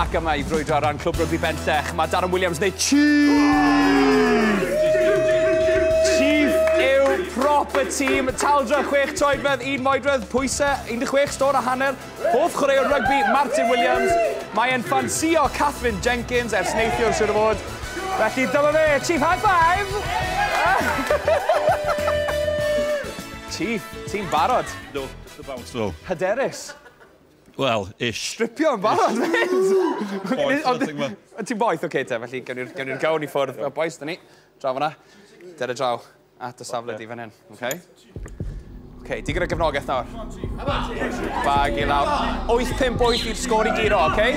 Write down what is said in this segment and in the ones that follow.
Ac yma i frwydro ar ran Clwb Rygbi Bentech, mae Darren Williams neu Chief! Chief yw prop y tîm, taldra 6 troedfedd, 1 moedredd, pwysau 16 stôn a hanner, hoff chwaraewr rygbi Martin Williams. Mae e'n ffansio Catherine Jenkins ers neithiwr siwr o fod. Felly dyma fe, Chief High Five! Ti? Ti'n barod? No, just about so. Hyderus? Wel, ish. Stripio yn barod, Boeth, Ond ti'n boeth, oce te, felly gawn ni'r gawn i ffwrdd. Fel boes, da ni. Draw fanna. Dere draw at y safle di fan hyn, oce? Oce, di gyda gefnogaeth nawr. Bag i lawr. 8-5 bwyth i'r sgôr i giro, oce?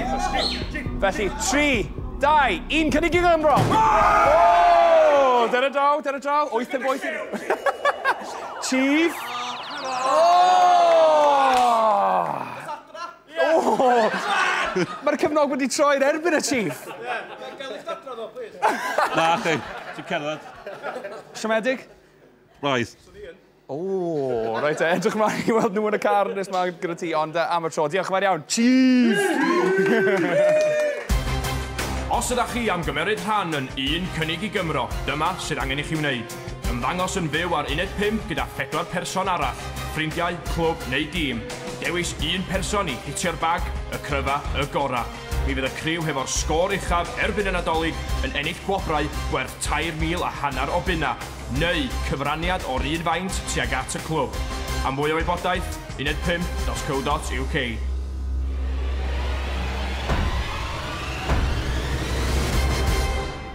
Felly, 3, Dau, un cynnig i Gymro! Oh! Dyna draw, dyna draw. Oeth yn boeth. Chief. Mae'r cyfnog wedi troi'r erbyn y chief. Na, chi. Ti'n cerdded. Siomedig? Roedd. Ooh, reit te, edrych mlaen i weld nhw yn y car nes ma gyda ti, ond uh, am y tro, diolch yn fawr iawn. Cheers! Os ydych chi am gymeryd rhan yn un cynnig i Gymro, dyma sydd angen i chi wneud. Ymddangos yn fyw ar uned 5 gyda phedwar person arall, ffrindiau, clwb neu dîm. Dewis un person i hitio'r bag, y cryfa, y gora. Mi fydd y criw hefo'r sgôr uchaf erbyn y Nadolig yn ennill gwobrau gwerth tair mil a hanner o bunna. neu cyfraniad o'r un faint tuag at y clwb. Am fwy o wybodaeth, uned 5.co.uk.